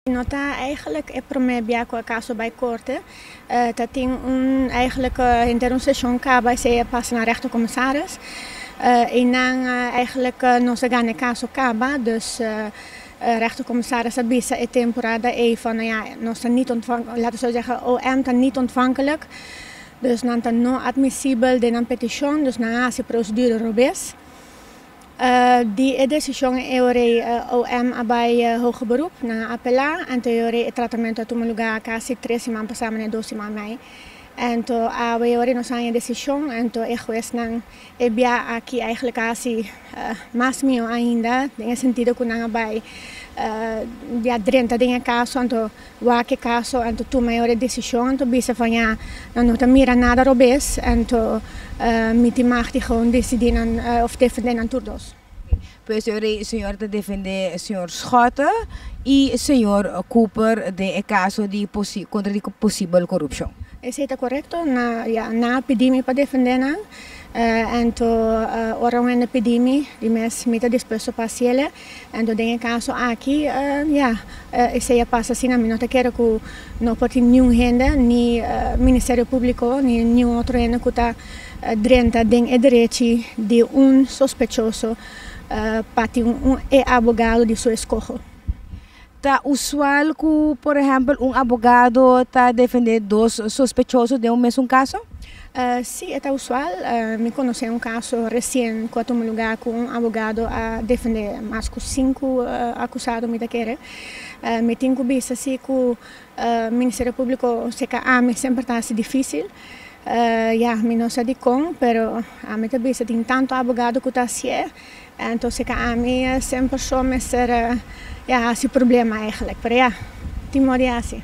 No ta eigenlijk e prome bia ku e kaso bai korte. Ta tin un eigenlijk henter un seshon kaba esei a pasa na rehto komisaris i nan eigenlijk no sa gana e kaso kaba. Dus rehto komisaris a bisa e temporada ei van no ya nos ta nit ontvankelijk, lata so segha OM ta nit ontvankelijk, dus nan ta no admisibel den nan petishon, dus nan a hasi prosedura robes. Di e desishon eorei OM a bai hoge beroep. Nan a apelá. Anto eorei e tratamentu a tuma lugá kasi tres siman pasá manera dos siman mai. Anto awe eorei nos haña e desishon. Anto e huesnan e bia aki eigenlijk hasi mas mihó ainda den e sentido ku nan a bai bia drenta den e kaso. Anto. Wak-e kaso anto tuma e ora e desishon anto bisa for ña nan no ta mira nada robes anto miti machtig on desidí nan of defendé nan tur dos. Pues e ora e señor ta defendé señor Schotte i señor Cooper den e kaso di kontra di posibel korupshon. Esei ta korekto, ya nan a pidi mi pa defendé nan anto ora un hende pidi mi di mes mi ta dispuesto pa hasié lé. Anto den e kaso aki, ya, esei a pasa asina. Mi no ta kere ku no por tin niun hende, ni Ministerio Públiko, ni niun otro hende ku ta drenta den e derechi di un sospechoso pa tin un e abogado di su eskoho. Ta usual ku por ehèmpel un abogado ta defendé dos sospechoso den un mesun kaso? Sí, e ta usual. Mi konosé un kaso resien ku a tuma lugá ku un abogado a defendé mas ku sinku akusado, mi ta kere. Mi tin ku bisa si ku Ministerio Públiko seka ami semper ta hasi difísil. Ya, mi no sa dikon, pero ami ta bisa tin tantu abogado ku ta hasié. Enton si ta ami e cien persoa mester a hasi problema eigenlijk, pero ya, tin mor di hasi.